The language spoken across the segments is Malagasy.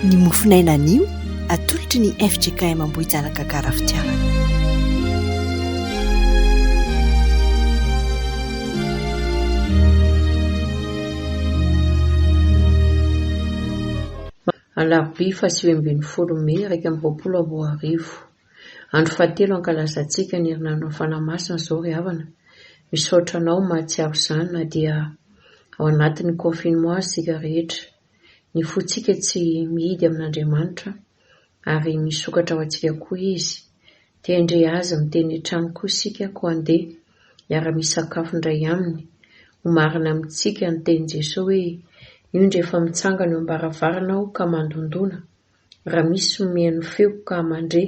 Ny mofon'aina anio atolotry ny fjkm Ambohijanaka Gara Fitiavana. Alarobia faha sivy ambin'ny folo mey iraika amby roapolo sy roa arivo. Andro fahatelo ankalazantsika ny herinandron'ny Fanahy Masina izao ry havana. Misaotra anao mahatsiaro izany na dia ao anatin'ny confinement aza isika rehetra. Ny fontsika tsy mihidy amin'Andriamanitra ary misokatra ho antsika koa Izy. Te-handre Azy miteny hatrany koa isika koa andeha hiara-misakafo indray Aminy. Homarina amintsika ny tenin'i Jesoa hoe, Indro efa mitsangana eo am-baravarana Aho ka mandondona. Raha misy omeny feo ka mandre,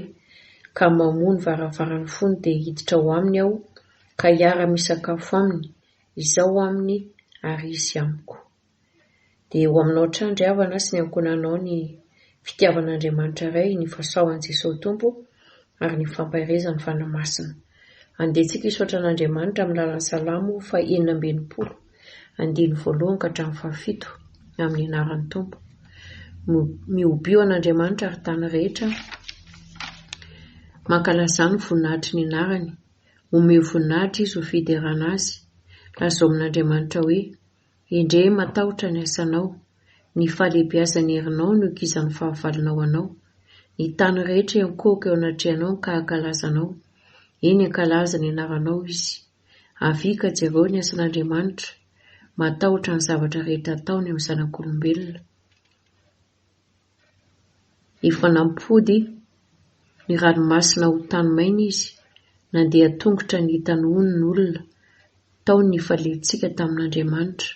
ka mamoha ny varavarany fony dia hiditra ao aminy aho ka hiara-misakafo aminy, izaho aminy ary izy amiko. Dia eo aminao hatrany ry havana sy ny ankohonanao ny fitiavan'Andriamanitra Ray, ny fahasaohan'i Jesosy Tompo ary ny fampaherezan'ny Fanahy Masina. Andeha tsika hisaotra an'Andriamanitra amin'ny lalan'ny Salamo fahenina amby enimpolo. Andininy voalohany ka hatramin'ny fahafito, amin'ny anaran'ny Tompo. Mihobio an'Andriamanitra ary tany rehetra. Mankalazà ny voninahitry ny anarany. Omeo voninahitra izy ho fiderana azy. Lazao amin'Andriamanitra hoe, Endrey matahotra ny asanao. Ny fahalehibiazan'ny herinao no ikizan'ny fahavalonao anao. Ny tany rehetra enkohoka eo anatrehanao ny ka hankalazanao. Eny, hankalaza ny anaranao izy. Avia ka jereo ny asan'Andriamanitra, matahotra ny zavatra rehetra ataony amin'ny zanak'olombelona. Efa nampody ny ranomasina ho tany maina izy, nandeha an-tongotra ny hitanony ny olona, tao ny nifaliantsika tamin'Andriamanitra.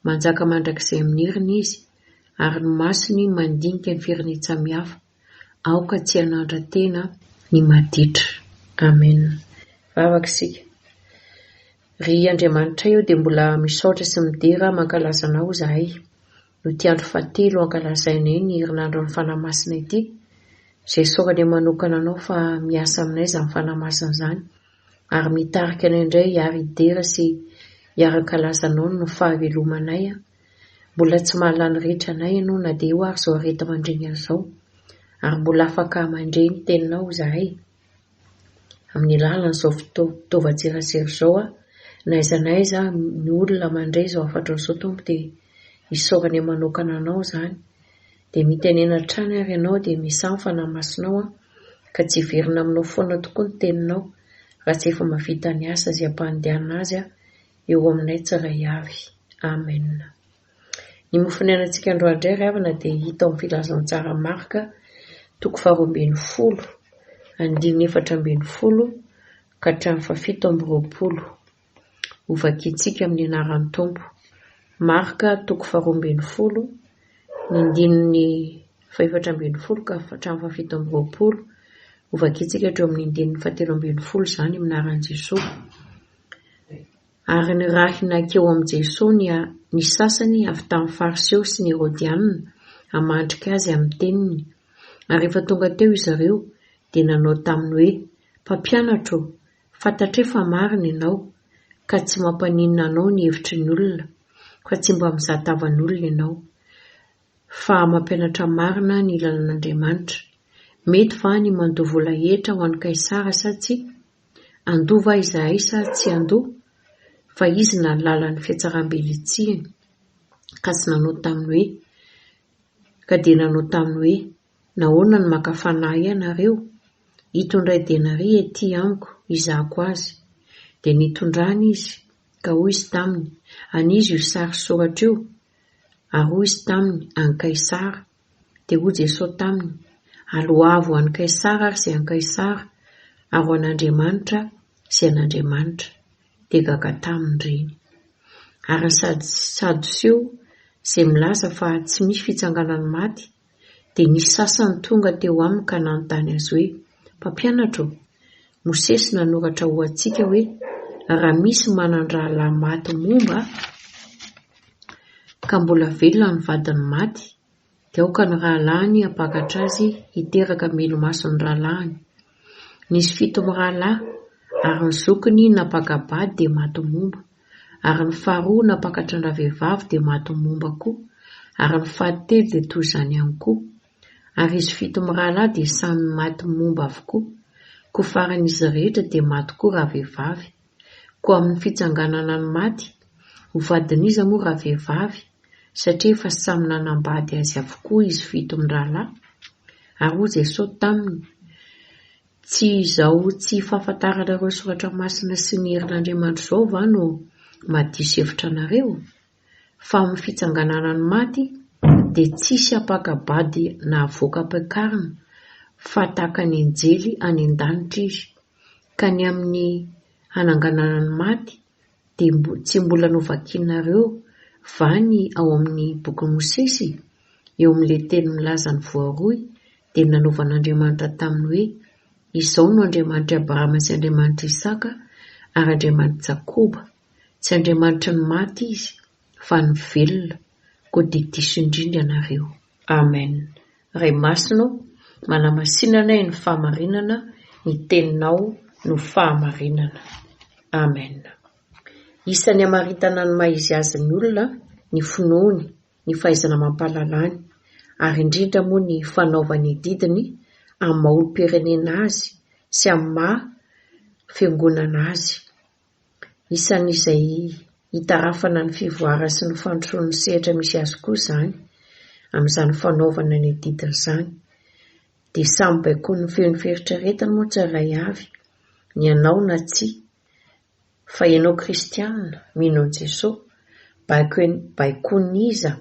Manjaka mandrakizay amin'ny heriny izy, ary ny masony mandinika ny firenentsamihafa. Aoka tsy hanandra-tena ny maditra. Amen. Vavaka isika. Ry Andriamanitray ô dia mbola misaotra sy midera hamankalasa Anao izahay, noho ity andro fahatelo hankalazainay ny herinandron'ny Fanahy Masina ity, izay isaorany manokana Anao fa miasa aminay izany Fanahy Masina izany, ary mitarika anay indray hiara-hidera sy hiara-hankalaza Anao ny fahavelomanay, Mbola tsy mahalala ny rehetra anay ianao na dia eo ary izao areta-mandreny an'izao, ary mbola afaka mandre ny teninao izahay. Amin'ny alalan'izao fitaovan-tserasera izao aho, na aiza na aiza ny olona mandre izao hafatrao izao, Tompo, dia isaorany manokana Anao izany. Dia mitenena hatrany ary ianao, dia misaha ny Fanahy Masinao aho, ka tsy hiverina aminao foana tokoa ny teninao, raha tsy efa mahavita ny asa izay ampandehanana azy aho, eo aminay tsiray avy. Amen. Ny mofo niainantsika androandray ry havana dia hita ao amin'ny filazantsara Marka toko faharoa ambin'ny folo andininy efatra ambin'ny folo ka hatramin'ny fahafito amby roapolo. Hovakintsika amin'ny anaran'ny Tompo. Marka toko faharoa ambin'ny folo ny andininy fahefatra ambin'ny folo ka hatramin'ny fahafito amby roapolo. Hovakintsika hatreo amin'ny andininy fahatelo ambin'ny folo izany amin'ny anaran'i Jesoa. Ary nirahina hankeo amin'i Jesoa ny ny sasany avy tamin'ny Fariseo sy ny Herodianina hamadrika Azy amin'ny teniny. Ary rehefa tonga teo izy ireo, dia nanao taminy hoe, Mpampianatra ô, fantatray fa marina Ianao, ka tsy mampaninona Anao ny hevitry ny olona, fa tsy mba mizaha tavan'olona Ianao, fa mampianatra marina ny lalan'Andriamanitra. Mety va ny mandoa vola hetra ho an'i Kaisara sa tsia? Andoa va izahay sa tsy andoa? Fa izy nahalala ny fihatsaram-be nitsihiny, ka tsy nanao taminy hoe, ka dia nanao taminy hoe, Nahoana no maka fanahy ianareo? Ito indray denaria ety amiko, hizahako azy. Dia nitondrany izy, ka hoy izy taminy, An'iza io sary soratra io? Ary hoy izy taminy, An'i Kaisara. Dia hoy Jesoa taminy, Aloavo an'i Kaisara ary izay an'i Kaisara, ary ho an'Andriamanitra izay an'Andriamanitra. Dia gaga taminy ireny. Ary ny Sadoseo, izay milaza fa tsy misy fitsanganan'ny maty, dia nisy sasany tonga teo aminy ka nanontany Azy hoe, Mpampianatra ô, Mosesy nanoratra ho antsika hoe, Raha misy manan-drahalahy maty momba, ka mbola velona ny vadin'ny maty, dia aoka ny rahalahiny hampakatra azy hiteraka melo-maso ny rahalahiny. Nisy fito mirahalahy, ary ny zokiny nampaka-bady dia maty momba, ary ny faharoa nampakatran-dravehivavy dia maty momba koa, ary ny fahatelo dia toy izany ihany koa. Ary izy fito mirahalahy dia samy maty momba avokoa, koa faran'izy rehetra dia maty koa ravehivavy. Koa amin'ny fitsanganana ny maty, ho vadin'iza moa ravehivavy, satria efa samy nanambady azy avokoa izy fito mirahalahy? Ary hoy Jesosy taminy, Tsy izao tsy fahafantaranareo ny soratra masina sy ny herin'Andriamanitra izao va no mahadiso hevitra anareo? fa amin'ny fitsanganana ny maty dia tsisy ampakabady nahavoaka ampiakarina fa tahaka ny anjely any an-danitra izy, ka ny amin'ny hananganana ny maty dia tsy mbola novakianareo va ny ao amin'ny bokin'i Mosesy? Eo amin'ilay teny milaza ny voaroy dia nanovan'Andriamanitra taminy hoe, Izaho no Andriamanitr'i Abrahama sy Andriamanitr'i Isaka ary Andriamanitr'i Jakoba. Tsy Andriamanitry ny maty Izy, fa ny velona, koa dia diso indrindra ianareo. Amen Ray masina ô manamasina anay ny fahamarinana ny teninao no fahamarinana Amen Isany hamaritana ny maha izy azy ny olona ny finoany ny fahaizana mampahalalany ary indrindra moa ny fanaovany adidiny amin'ny maha olompirenena azy sy amin'ny maha fiangonana azy Isan'izay hitarafana ny fivoarany sy ny fandrosoan'ny sehatra misy azy koa izany, amin'izany fanaovana ny adidiny izany. Dia samy baikoin'ny feon'ny fieritreretany moa tsirairay avy, ny anao na tsia. Fa ianao kristiana, mino an'i Jesoa, baikoin'iza?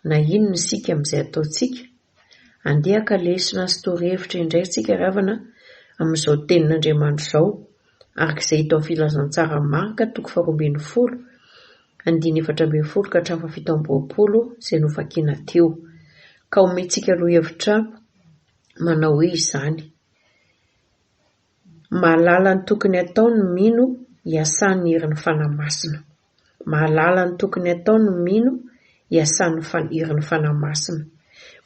Na inona isika amin'izay ataontsika, handehaka lesona sy torohevitra indray isika ravana amin'izao Tenin'Andriamanitra izao, araka izay hita ao Filazantsara Marka toko faharoa ambin'ny folo, andininy efatra ambin'ny folo ka hatramin'ny fahafito amby roapolo, izay novakina teo. Ka omentsika lohahevitra manao hoe izany. Mahalala ny tokony atao ny mino iasan'ny herin'ny Fanahy Masina. Mahalala ny tokony atao ny mino iasan'ny herin'ny Fanahy Masina.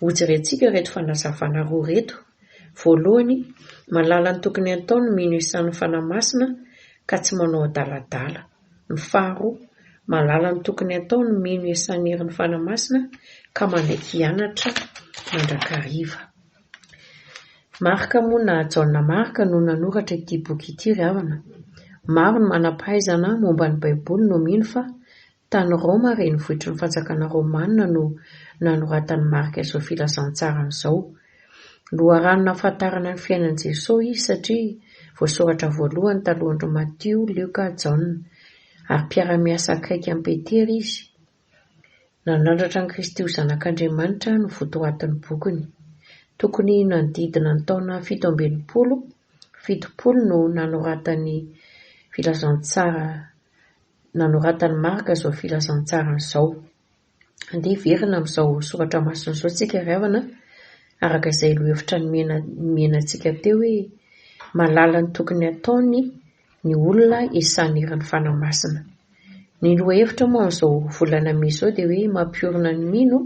Hojerentsika ireto fanazavana roa ireto. Voalohany, mahalala ny tokony atao ny mino iasan'ny Fanahy Masina ka tsy manao adaladala. Ny faharoa, mahalala ny tokony atao ny mino iasan'ny herin'ny Fanahy Masina ka manaiky hianatra mandrakariva. Marc moa na Jaona Marc no nanoratra ity boky ity ry havana. Maro ny manam-pahaizana momba ny Baiboly no mino fa tany Roma renivohitry ny fanjakana romanina no nanoratan'i Marc izao filazantsarany izao. Loharano nahafantarana ny fiainan'i Jesoa izy satria voasoratra voalohany talohan-dry Matio, Lioka, Jaona. Ary mpiara-miasa akaiky amin'i Petera izy Nanandratra an'i Kristy ho Zanak'Andriamanitra no votoatin'ny bokiny. Tokony nanodidina ny taona fito amby enimpolo, fitopolo no nanoratany filazantsara nanoratan'i Marka izao filazantsarany izao. Andeha hiverina amin'izao soratra masina izao isika ry havana araka izay lohevitra nomena nomenantsika teo hoe malala ny tokony hataony ny olona isanerany fanahy masina. Ny lohahevitra moa amin'izao volana mey izao dia hoe mampiorina ny mino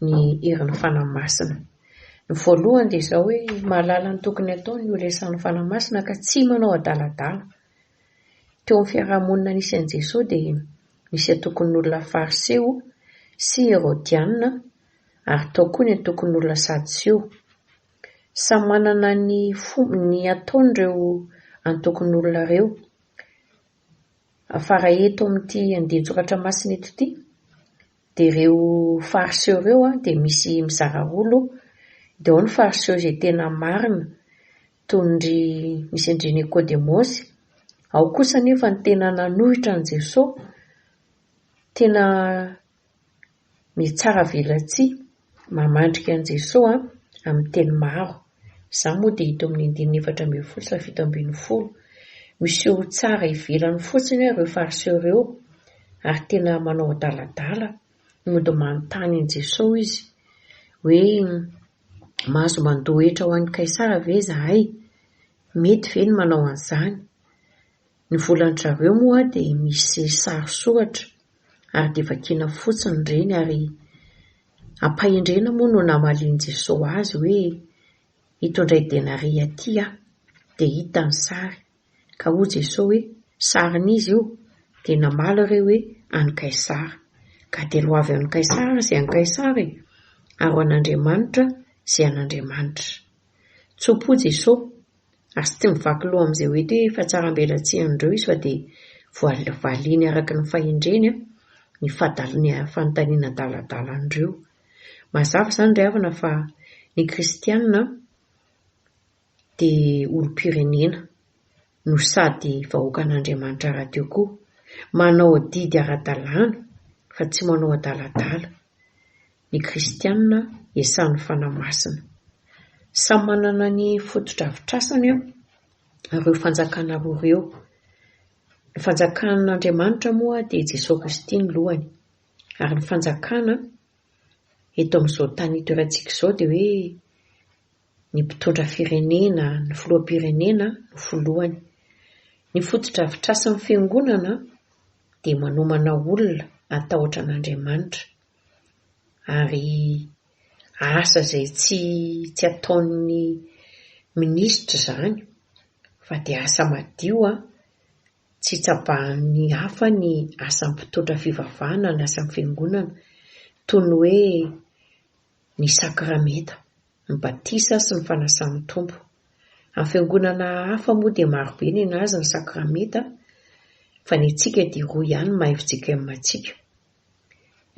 ny herin'ny fanahy masina. Ny voalohany dia izao hoe mahalala ny tokony hatao ny holesan'ny fanahy masina ka tsy manao adaladala. Teo amin'ny fiarahamonina nisy an'i Jesoa dia nisy antokon'olona fariseo sy herodianina ary tao koa ny antokon'olona sadoseo. Samy manana ny fomb ny ataony reo antokon'olona reo. Afara eto amin'ity andian-tsoratra masina eto ity dia reo fariseo reo dia misy mizara roa lo, dia ao ny fariseo izay tena marina toy ny ry misy an-dry Nikodemosy, ao kosa anefa ny tena nanohitra an'i Jesoa, tena Mitsara velatsihy mamandrika an'i Jesoa amin'ny teny maro. Izany moa dia hita eo amin'ny andininy efatra ambin'ny folo sy fahafito ambin'ny folo. Miseho tsara ivelany fotsiny hoe ireo Fariseo ireo ary tena manao adaladala. Mody manontany an'i Jesoa izy hoe mahazo mandoa hetra ho an'i Kaisara ve izahay? Mety ve ny manao an'izany? Ny volan-dRaveo moa dia misy sary soratra ary dia vakiana fotsiny ireny ary ampahendrena moa no namalian'i Jesosy azy hoe ito indray denaria ity aho dia hita ny sary ka hoy Jesosy hoe sarin'iza io dia namaly ireo hoe an'i Kaisara ka dia loavy amin'i Kaisara izay an'i Kaisara e ary ho an'Andriamanitra izay an'Andriamanitra. Tso-po Jesosy. Azy tsy mivaky loha amin'izay hoe te fa tsara ambelatsihin'ireo izy fa dia voavaliany araka ny fahendreny an, ny fadaliny fanontaniana adaladala an'ireo. Mazava izany ry havana fa ny kristianina an, dia olom-pirenena no sady vahoakan'Andriamanitra rahateo koa. Manao adidy ara-dalàna fa tsy manao adaladala. ny kristiana iasan'ny Fanahy Masina. Samy manana ny fotodrafitrasany ireo fanjakana roa ireo. Ny fanjakan'Andriamanitra moa dia Jesoa Kristy no lohany, ary ny fanjakana eto amin'izao tany itoerantsika izao dia hoe ny mpitondra firenena, ny filoham-pirenena no filohany. Ny fotodrafitrasan'ny fiangonana dia manomana olona hatahotra an'Andriamanitra. ary asa izay tsy tsy ataon'ny minisitra izany fa dia asa madio an! tsy tsabahan'ny hafa ny asa mpitondra fivavahana na asa fiangonana toy ny hoe ny sakramenta, ny batisa sy ny fanasan'ny Tompo. Amin'ny fiangonana hafa moa dia marobe nenazy ny sakramenta fa ny antsika dia roa ihany ny maha-FJKM antsika,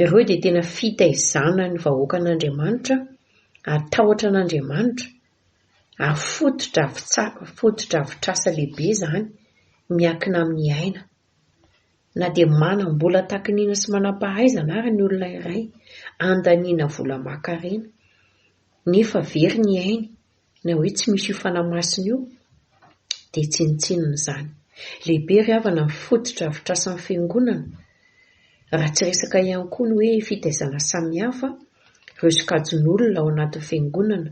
Ireo dia tena fitaizana ny vahoakan'Andriamanitra ary tahotra an'Andriamanitra ary fotodrafitrasa lehibe izany miankina amin'ny aina. Na dia manam-bola takin'ina sy manam-pahaizana ary ny olona iray, andaniana vola aman-karena, nefa very ny ainy Na hoe tsy misy io Fanahy Masina io dia tsinontsinona izany. Lehibe ry havana ny fotodrafitrasan'ny Fiangonana raha tsy resaka ihany koa ny hoe fitaizana samihafa ireo sokajin'olona ao anatin'ny Fiangonana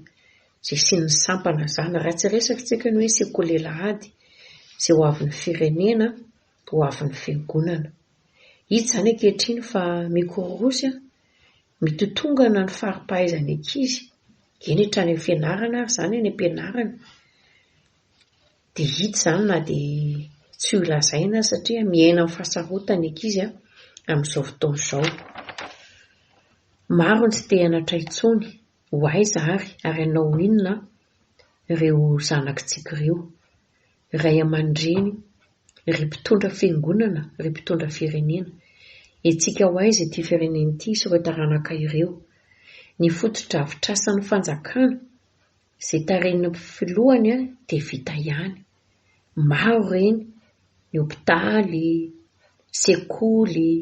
izay asian'ny sampana izany, raha tsy resaka isika ny hoe sekolelah ady izay ho avin'ny firenena, ho avin'ny Fiangonana. Hita izany ankehitriny fa mikororosy, mitotongana ny fari-pahaizan'ny ankizy. Eny hatrany amin'ny fianarana ary izany any am-pianarana dia hita izany na dia tsy ho lazaina aza satria miaina amin'ny fahasarotana ny ankizy an, amin'izao fotoana izao. Maro ny tsy te hianatra intsony, ho aiza ary, ary hanao inona ireo zanakitsika ireo. Ray aman-dreny, ry mpitondra fiangonana, ry mpitondra firenena, hetsika ho aiza ity firenena ity sy ireo taranaka ireo? Ny fotodrafitrasan'ny fanjakana, izay tarihin'ny filohany dia vita ihany. Maro ireny, ny hopitaly, sekoly.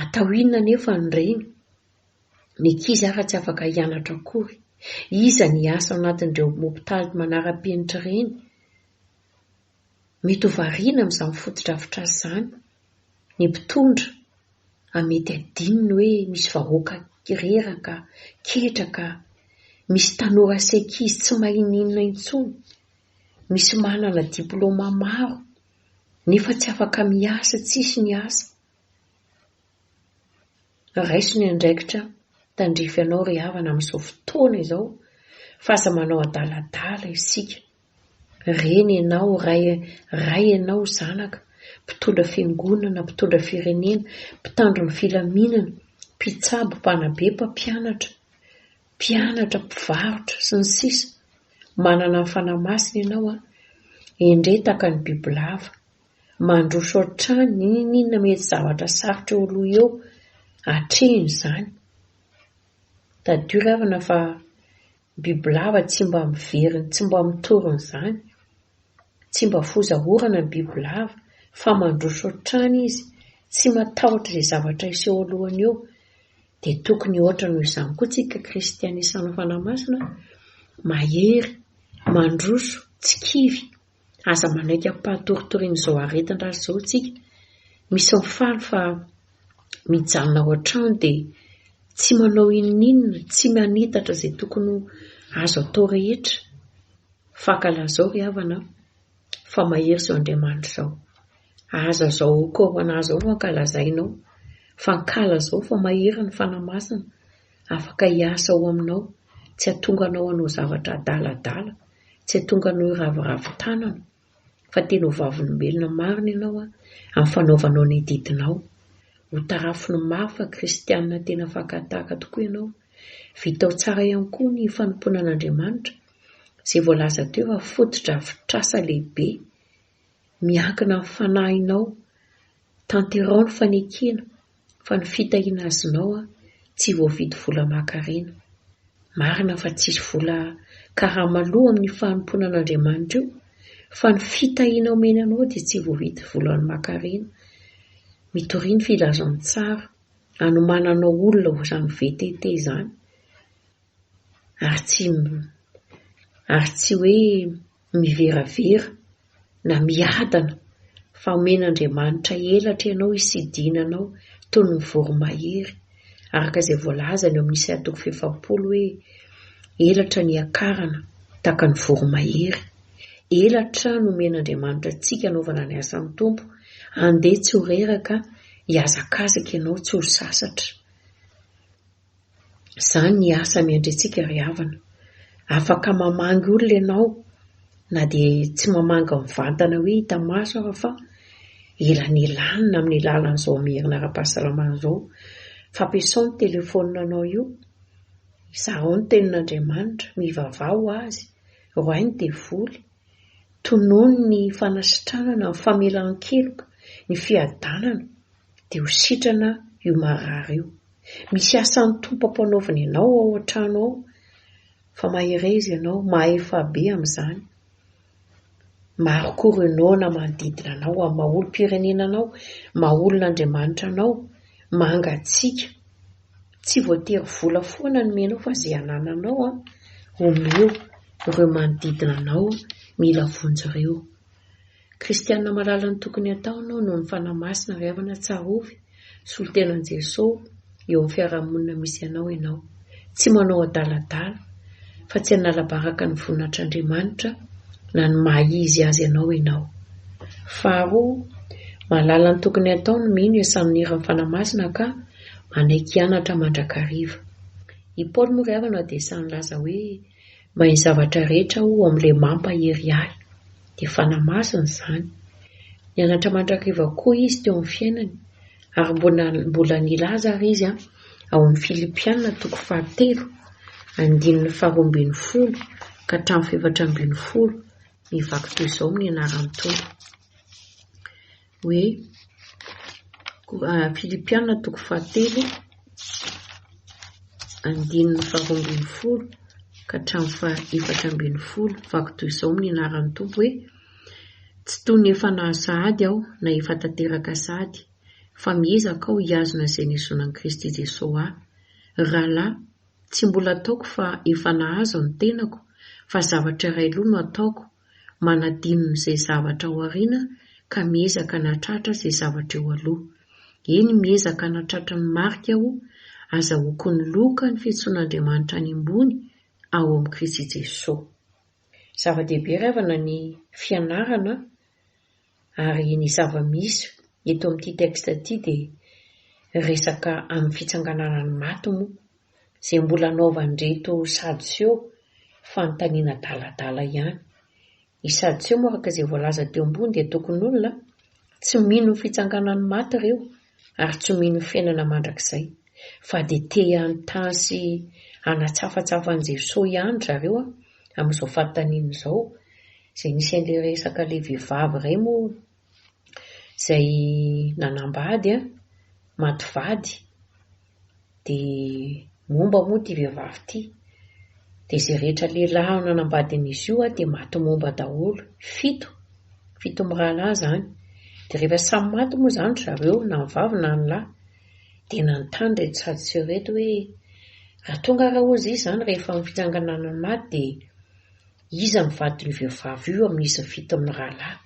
Atao inona anefa an'ireny? Ny ankizy hafa tsy afaka hianatra akory. Iza ny hiasa ao anatin'ireo hopitaly manara-penitra ireny? Mety ho variana amin'izany fotodrafitrasa izany. Ny mpitondra a mety hadinony hoe misy vahoaka reraka, ketraka, misy tanora sy ankizy tsy maninona intsony, misy manana diplaoma maro nefa tsy afaka miasa, tsisy ny asa. Raiso ny andraikitra tandrify anao ry havana amin'izao fotoana izao fa aza manao adaladala isika. Reny ianao, ray, ray ianao, zanaka, mpitondra fiangonana, mpitondra firenena, mpitandro ny filaminana, mpitsabo, mpanabe, mpampianatra, mpianatra, mpivarotra, sy ny sisa Manana ny Fanahy Masina ianao an! Endrey tahaka ny bibilava, mandroso hatrany n'inon'inona mety zavatra sarotra eo aloha eo, atrehina izany. Tadidio ravina fa bibilava tsy mba miveriny, tsy mba mitory an'izany. Tsy mba foza orana ny bibilava fa mandroso hatrany izy, tsy matahotra izay zavatra hiseho alohany eo. Dia tokony hoatra noho izany koa tsika kristianisa anao fanahy masina, mahery, mandroso, tsy kivy. Aza manaiky ampahatoritoriana izao aretin-dratsy izao isika. Misy ao faly fa mijanona ao an-trano dia tsy manao inoninona, tsy manitatra izay tokony ho azo atao rehetra. Fankahalala izao ry havana an! fa mahery izao Andriamanitra izao. Aza izao corona izao fankahalazainao. Fankahala izao fa mahery ny Fanahy Masina. Afaka hiasa ao aminao, tsy hahatonga anao hanao zavatra adaladala, tsy hahatonga anao hiraviravy tanana, fa tena ho vavolombelona marina ianao amin'ny fanaovanao ny adidinao. Ho tarafiny maro fa kristiana tena fakan-tahaka tokoa ianao. Vitao tsara ihany koa ny fanompoana an'Andriamanitra, izay voalaza teo fa fotodrafitrasa lehibe. miankina amin'ny fanahinao, tanterao ny fanekena fa ny fitahiana azonao tsy voavidy vola aman-karena. Marina fa tsisy vola karama loha amin'ny fanompoana an'Andriamanitra io fa ny fitahiana omeny anao dia tsy voavidy vola aman-karena. Mitoria ny filazantsara anomananao olona ho izany VTT izany ary tsy ary tsy hoe miveravera na miadana fa omena Andriamanitra elatra ianao hisidina anao toy ny voromahery, araka izay voalazany ao amin'ny Isaia toko fahefapolo hoe, Elatra ny hiakarana tahaka ny voromahery. Elatra no omena Andriamanitra antsika hanaovana ny asan'ny Tompo, andeha tsy ho reraka, hihazakazaka ianao tsy ho sasatra. Izany ny asa miandry antsika ry havana. Afaka mamangy olona ianao na dia tsy mamangy mivantana hoe hita maso aza fa elanelanina amin'ny alalan'izao merina ara-pahasalamana izao. Fampiasao ny telefaoninanao io, zarao ny tenin'Andriamanitra, mivavaha ho Azy, roahy ny devoly, tonony ny fanasitranana, ny famelan-keloka, ny fiadanana, Dia ho sitrana io marary io. Misy asan'ny Tompo ampanaoviny ianao ao an-trano ao, fa mahereza ianao, mahefa be amin'izany. Maro koa ireo noana manodidina anao, amin'ny maha olom-pirenena anao, maha olon'Andriamanitra anao, mangatsiaka. Tsy voatery vola foana no menao fa izay anananao an, omeo ireo manodidina anao mila vonjy ireo. Kristiana malala ny tokony hatao no noho ny Fanahy Masina avy avana Tsarovy, solontenan'i Jesosy, eo amin'ny fiarahamonina misy anao ianao. Tsy manao adaladala, fa tsy hanalabaraka ny voninatr'Andriamanitra na ny maha izy azy anao ianao. Faharoa, malala ny tokony hatao no mino esamin'iran'ny Fanahy Masina ka manaiky hianatra mandrakariva. I Paoly moa ry havana dia esa'ny nilaza hoe, Mahay zavatra rehetra aho amin'ilay mampahery ahy. Dia Fanahy Masina izany. Nianatra mandrakariva koa izy teo amin'ny fiainany, ary mbola mbola nilaza àry izy ao amin'ny Filipiana toko fahatelo, andininy faharoa ambin'ny folo ka hatramin'ny fahefatra ambin'ny folo, Mivaky toy izao amin'ny anaran'ny Tompo. hoe Filipiana toko fahatelo andininy faharoa ambin'ny folo ka hatramin'ny fahaefatra ambin'ny folo vaky toy izao amin'ny anaran'ny Tompo hoe tsy toy ny efa nahazo sahady aho na efa tanteraka sahady fa miezaka aho hihazona izay nihazonan'i Kristy Jesosy ahy rahalahy tsy mbola ataoko fa efa nahazo ny tenako fa zavatra iray loha no ataoko manadino ny zay zavatra ao aoriana ka miezaka hanatratra zay zavatra eo aloha. Eny miezaka hanatratra ny marika aho, aza hokony loka ny fiantsoan'Andriamanitra any ambony ao amin'i Kristy Jesoa. Zava-dehibe ry havana ny fianarana Ary ny zava-misy eto amin'ity texte ity dia resaka amin'ny fitsanganana ny maty moa izay mbola anaovan'ireto Sadoseho fanontaniana adaladala ihany. I Sadoseho moa araka izay voalaza teo ambony dia tokon'olona tsy mino ny fitsanganan'ny maty ireo ary tsy mino fiainana mandrakizay fa dia te hanontany sy hanatsafatsafa an'i Jesosy ihany zareo amin'izao fanontaniana izao izay nisy an'ilay resaka ilay vehivavy iray moa izay nanambady maty vady Dia momba moa ity vehivavy ity. Dia izay rehetra lehilahy ao nanambadin'izy io dia maty momba daholo. Fito, fito mirahalahy izany. Dia rehefa samy maty moa izany ry zareo na ny vavy na ny lahy dia nanontany ireto Sadoseo ireto hoe, Raha toa angaha hozy izy izany rehefa amin'ny fitsanganana ny maty dia iza no vadin'io vehivavy io amin'izy fito mirahalahy?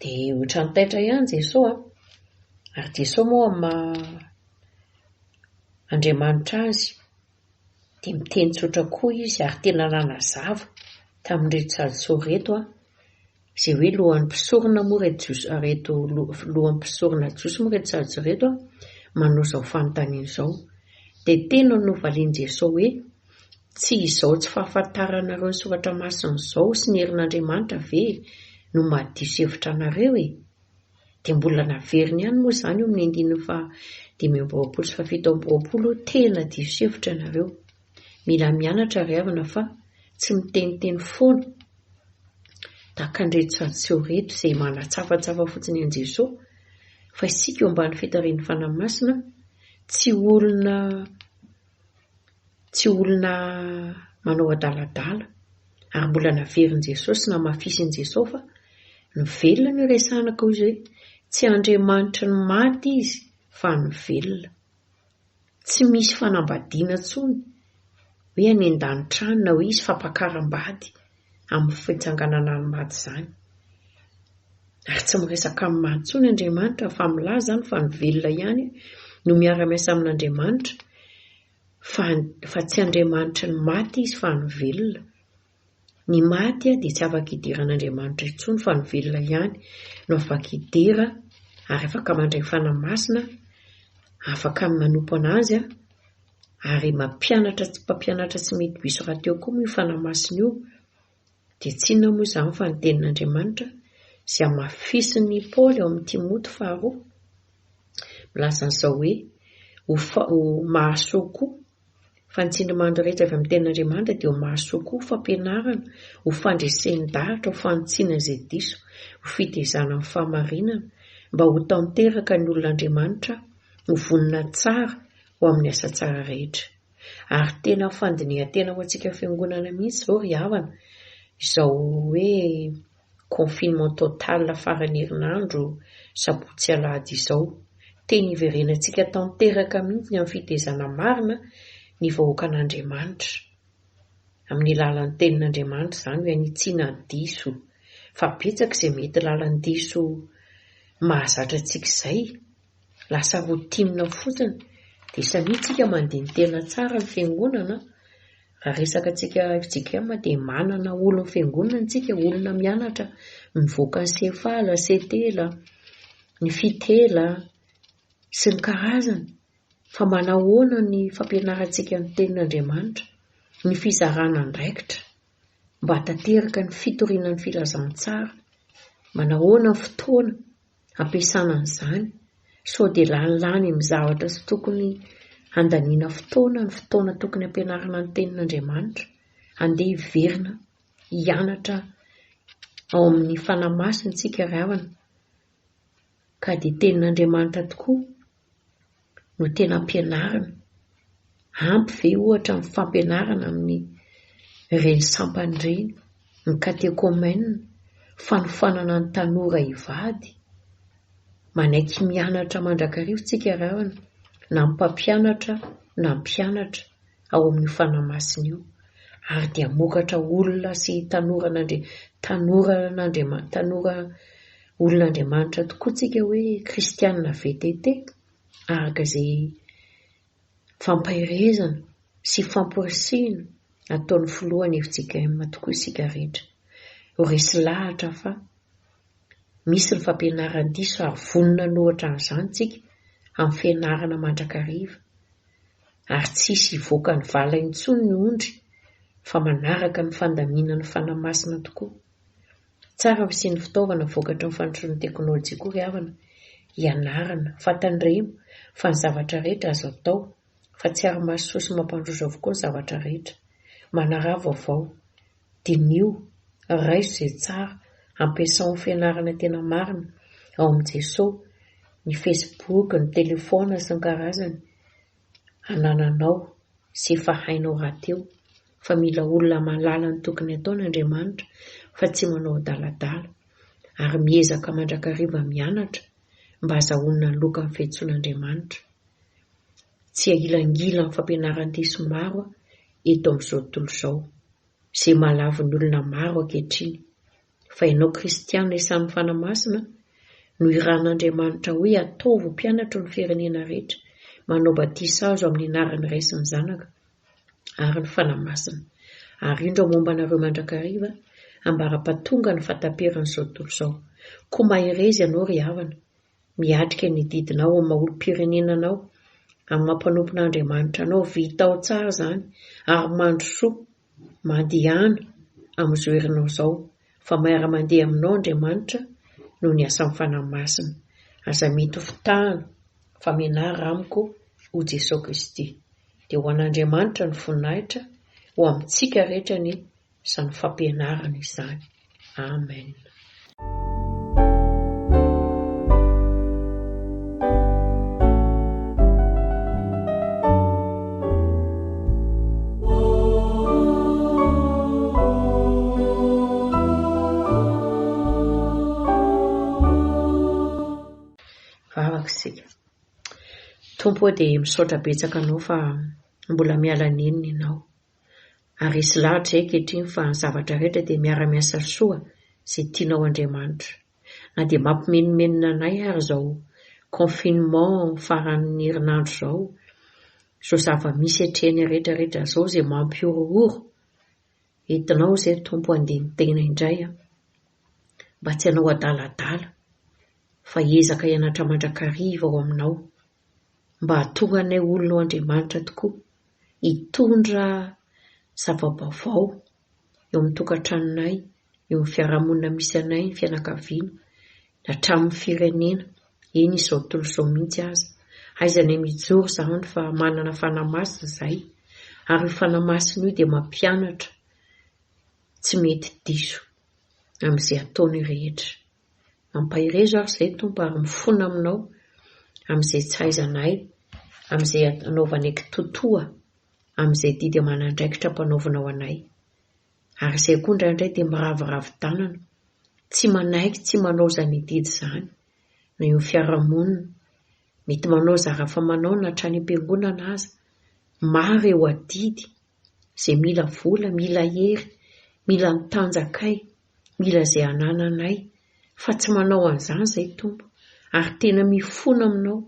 Dia ohatran'ny taitra ihany Jeso an! Ary Jeso moa maha Andriamanitra azy dia miteny tsotra koa izy ary tena nanazava tamin'ireto salisory ireto an! Izay hoe lohan'ny mpisorona moa ireto Jiosy ireto lohan'ny mpisorona Jiosy moa ireto salisory ireto an! manao izao fanontaniana izao. Dia tena novalian'i Jeso hoe. Tsy izao tsy fahafantaranareo ny Soratra Masina izao sy ny herin'Andriamanitra ve no mahadiso hevitra anareo e? Dia mbola naveriny ihany moa izany eo amin'ny andininy faha dimy amby roapolo sy faha fito amby roapolo hoe tena diso hevitra ianareo. Mila mianatra ry havana fa tsy miteniteny foana tahaka an'ireto sady seho ireto izay manatsafatsafa fotsiny an'i Jesoa fa isika eo ambany fitarihin'ny Fanahy Masina tsy olona tsy olona manao adaladala ary mbola naverin'i Jesosy sy namafisin'i Jesosy fa ny velona no resahina koa izy hoe tsy Andriamanitry ny maty izy fa ny velona tsy misy fanambadiana intsony hoe any an-danitra any na hoe izy fampakaram-bady amin'ny fitsanganana ny maty izany. Ary tsy miresaka amin'ny maty intsony Andriamanitra fa milaza izany fa ny velona ihany no miara-miasa amin'Andriamanitra fa fa tsy Andriamanitry ny maty izy fa ny velona. Ny maty dia tsy afaka hidera an'Andriamanitra intsony fa ny velona ihany no afaka hidera ary afaka mandray fanahy masina, afaka manompo an'azy, Ary mampianatra tsy mpampianatra tsy mety diso rahateo koa moa io Fanahy Masina io. Dia tsy inona moa izany fa ny Tenin'Andriamanitra izay hamafisin'i Paoly ao amin'i Timoty faharoa. Milaza an'izao hoe, Ho, ho mahasoa koa. Fa ny tsindrimandry rehetra avy amin'ny Tenin'Andriamanitra dia ho mahasoa koa, ho fampianarana, ho fandresen-dahatra, ho fanitsiana izay diso, ho fitezana amin'ny fahamarinana, mba ho tanteraka ny olon'Andriamanitra ho vonona tsara, ho amin'ny asa tsara rehetra. Ary tena fandinihan-tena ho antsika fiangonana mihitsy izao ry havana, izao hoe confinement total faran'ny herinandro sabotsy alahady izao. Tena hiverenantsika tanteraka mihitsy ny amin'ny fitezana marina ny vahoakan'Andriamanitra. Amin'ny lalan'ny tenin'Andriamanitra izany hoe hanitsiana ny diso. Fa betsaka izay mety lalan'ny diso mahazatra antsika izay. Lasa routine fotsiny dia samia tsika mandihy ny tena tsara ny fiangonana raha resaka tsika fjkm dia manana olo ny fiangonana tsika olona mianatra mivoaka ny cefala, setela, ny fitela sy ny karazany fa manahoana ny fampianarantsika ny tenin'Andriamanitra ny fizarana andraikitra mba hatateraka ny fitoriana ny filazantsara manahoana ny fotoana ampiasana an'izany sao dia lany lany amin'ny zavatra tsy tokony handaniana fotoana ny fotoana tokony hampianarana ny tenin'Andriamanitra, handeha hiverina hianatra ao amin'ny fanahy masina isika ry havana ka dia tenin'Andriamanitra tokoa no tena ampianarina? Ampy ve ohatra ny fampianarana amin'ireny sampana ireny, ny katekomena, fanofanana ny tanora hivady? Manaiky mianatra mandrakariva isika raha na ny mpampianatra na ny mpianatra ao amin'io fanahy masina io ary dia hamokatra olona sy tanora an'Andri tanora an'Andriama tanora olona Andriamanitra tokoa tsika hoe kristianina VTT araka izay fampaherezana sy famporisihina ataon'ny filohan'ny FJKM tokoa isika rehetra ho resy lahatra fa misy ny fampianaran-diso ary vonona ny ohatra an'izany tsika amin'ny fianarana mandrakariva ary tsy hisy hivoaka ny vala intsony ny ondry fa manaraka ny fandaminan'ny Fanahy Masina tokoa. Tsara ho isian'ny fitaovana vokatry ny fandrosoan'ny teknolojia koa ry havana, ianarana fa tandremo fa ny zavatra rehetra azo atao fa tsy ary mahasoa sy mampandroso avokoa ny zavatra rehetra. Manaraha vaovao. Diniho, raiso izay tsara, ampiasao ny fianarana tena marina ao amin'i Jesoa, ny Facebook, ny telefaona sy ny karazany, anananao sy efa hainao rahateo fa mila olona mahalala ny tokony ataony Andriamanitra fa tsy manao adaladala, ary miezaka mandrakariva mianatra mba azahoana loka ny fiantsoan'Andriamanitra. Tsy ahilangila amin'ny fampianaran-diso maro eto amin'izao tontolo izao, izay mahalavo ny olona maro ankehitriny, fa ianao kristiana isan'ny fanahy masina, noirahan'Andriamanitra hoe ataovy ho mpianatro ny firenena rehetra, manao batisa azo amin'ny anaran'ny Ray sy ny Zanaka ary ny Fanahy Masina, ary indro momba anareo mandrakariva, ambara-pahatongan'ny fahataperan'izao tontolo izao. Koa mahereza ianao ry havana, Miatrika ny didinao amin'ny maha olom-pirenena anao, amin'ny maha mpanompon'Andriamanitra anao, vitao tsara izany ary mandrosoa, mandehana amin'izao herinao izao fa miara-mandeha aminao Andriamanitra noho ny asan'ny Fanahy Masina. Aza mety ho fitahana fa mianara amiko ho Jesoa Kristy. Dia ho an'Andriamanitra ny voninahitra, ho amintsika rehetra ny izany fampianarana izany. Amen. Tompo dia misaotra betsaka anao fa mbola miala nenina ianao. ary hisy lahatra izay ankehitriny fa ny zavatra rehetra dia miara-miasa soa izay tianao Andriamanitra. Na dia mampimenomenona anay ary izao confinement faran'ny herinandro izao, izao zava-misy atrehany rehetra rehetra izao izay mampihorohoro, entinao izay Tompo handeha ny tena indray an! mba tsy hanao adaladala fa hiezaka hianatra mandrakariva ao aminao. mba hahatonga anay olona ao Andriamanitra tokoa hitondra zava-baovao eo amin'ny tokantranonay, eo amin'ny fiarahamonina misy anay, ny fianakaviana, hatramin'ny firenena, eny izao tontolo izao mihitsy aza. Aiza ny mijoro izany fa manana Fanahy Masina izahay, ary io Fanahy Masina io dia mampianatra tsy mety diso amin'izay ataony rehetra. Mampaherezo aho izay Tompo ary mifona aminao amin'izay tsy hahaizanay amin'izay anaovanay kitotoa amin'izay didy aman'andraikitra ampanaovinao anay. Ary izay koa indraindray dia miraviravy tanana, tsy manaiky tsy manao izany didy izany na eo amin'ny fiarahamonina, mety manao zara fa manao na hatrany am-piangonana aza, maro eo adidy izay mila vola, mila hery, mila ny tanjakay, Mila izay anananay, fa tsy manao an'izany izay Tompo, ary tena mifona aminao,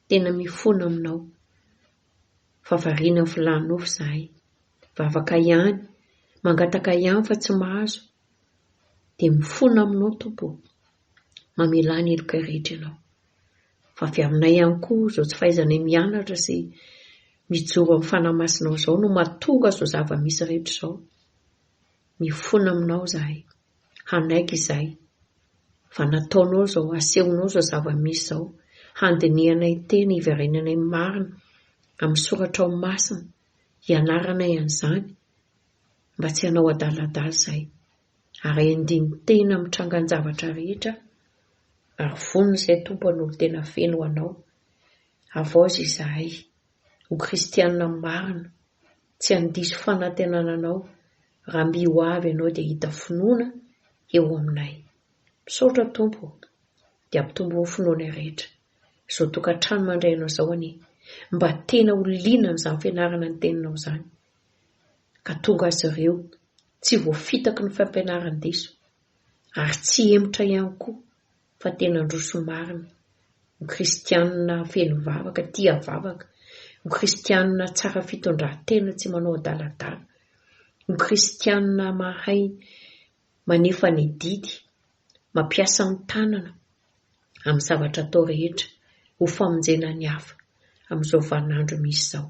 tena mifona aminao, fa variana ny filàn'ny nofo izahay, vavaka ihany, mangataka ihany fa tsy mahazo, dia mifona aminao Tompo ô, mamelà ny helokay rehetra ianao, fa avy aminay ihany koa izao tsy fahaizanay mianatra sy mijoro amin'ny Fanahy Masinao izao no mahatonga izao zava-misy rehetra izao, Mifona aminao izahay. Hanaiky izay. Fa nataonao izao, asehonao izao zava-misy izao, handinihanay tena, hiverenanay marina amin'ny soratrao masina, hianaranay an'izany, mba tsy hanao adaladala izay. Ary endiany tena amin'ny trangan-javatra rehetra, ary vonona izay Tompo hanolo tena feno ho anao. Havaozy izahay, ho kristianina marina. Tsy handiso fanantenana anao raha mby ho avy ianao dia hita finoana eo aminay. Misaotra Tompo o! Dia ampitombo ny finoanay rehetra. Izao tokantrano mandray anao izao anie mba tena ho liana amin'izany fianarana ny teninao izany ka tonga azy ireo tsy voafitaky ny fampianaran-diso. ary tsy hemotra ihany koa fa tena handroso marina ho kristianina feno vavaka, tia vavaka, ho kristianina tsara fitondran-tena tsy manao adaladala, ho kristianina mahay manefa ny adidy, mampiasa ny tanana amin'ny zavatra atao rehetra ho famonjena ny hafa amin'izao vanin'andro misy izao.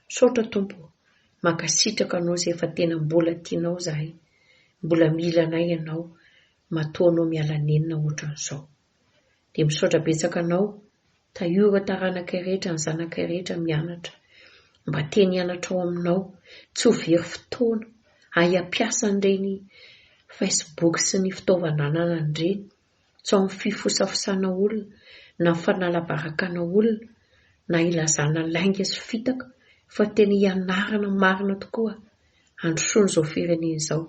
Misaotra Tompo o! Mankasitraka Anao izay fa tena mbola tianao izahay, mbola mila anay Ianao, matoa Anao miala nenina ohatran'izao. Dia misaotra betsaka Anao, tahio ireo taranakay rehetra, ny zanakay rehetra mianatra, mba teny hianatra ao Aminao, tsy ho very fotoana, ahy hampiasa an'ireny Facebook sy ny fitaovana ananany ireny, tsy ao amin'ny fifosafosana olona na fanalabarakana olona na ilazana lainga sy fitaka fa tena ianarana marina tokoa handrosoana izao firenena izao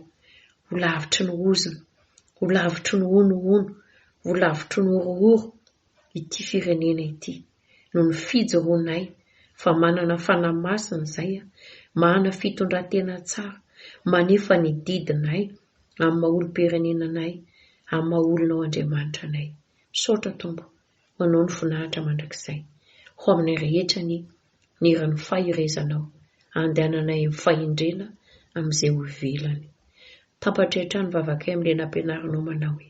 ho lavitry ny ozona, ho lavitry ny honohono, ho lavitry ny horohoro ity firenena ity noho ny fijoroanay fa manana fanahy masina izay, manana fitondratena tsara, manefa ny didinay, amin'ny maha olom-pirenena anay, amin'ny maha olona ho Andriamanitra anay. Misaotra Tompo, ho Anao ny voninahitra mandrakizay. Ho aminay rehetra anie ny hiran'ny faherezanao, andehananay amin'ny fahendrena amin'izay ho ivelany. Tampatrehitra ny vavakay amin'ilay nampianarinao manao hoe,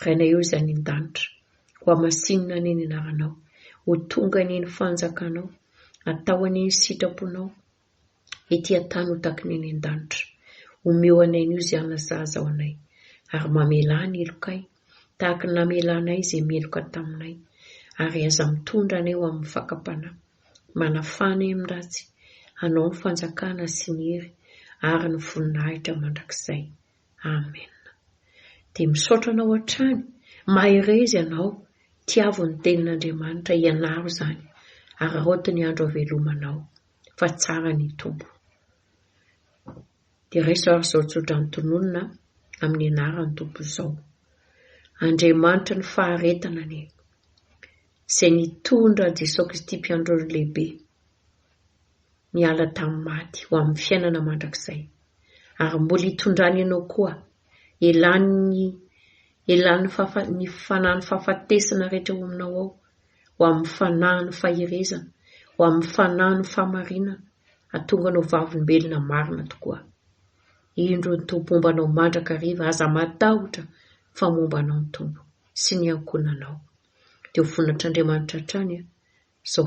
Rainay eo izay any an-danitra, hohamasinina anie ny anaranao, ho tonga anie ny fanjakanao, atao anie ny sitraponao, Ety an-tany ho takin'ny any an-danitra. Omeo anay anio izay hanasazy ao anay, ary mamelà ny helokay, tahaka ny namelanay izay meloka taminay, ary aza mitondra anay ho amin'ny fakam-panahy. Manafà anay amin'ny ratsy, anao ny fanjakana sy ny hery ary ny voninahitra mandrakizay. Amena. Dia misaotra anao hatrany, mahereza ianao, tiavo ny tenin'Andriamanitra, ianaro izany, araraoty ny andro havelomanao. fa tsara ny Tompo. Dia raiso ary izao tsodrano tononina amin'ny anaran'ny Tompo izao. Andriamanitra ny faharetana anie, izay nitondra an'i Jesoa Kristy mpiandrony lehibe, niala tamin'ny maty ho amin'ny fiainana mandrakizay, ary mbola hitondrany ianao koa, elan'ny elan'ny fahafa, ny fanan'ny fahafatesana rehetra ao aminao ao, ho amin'ny fanahy ny faherezana, ho amin'ny fanahy ny fahamarinana, hahatonga anao vavolombelona marina tokoa. Indro ny Tompo momba anao mandrakariva, aza matahotra fa momba anao ny Tompo sy ny ankohonanao. Dia ho vonin'Atr'Andriamanitra hatrany izao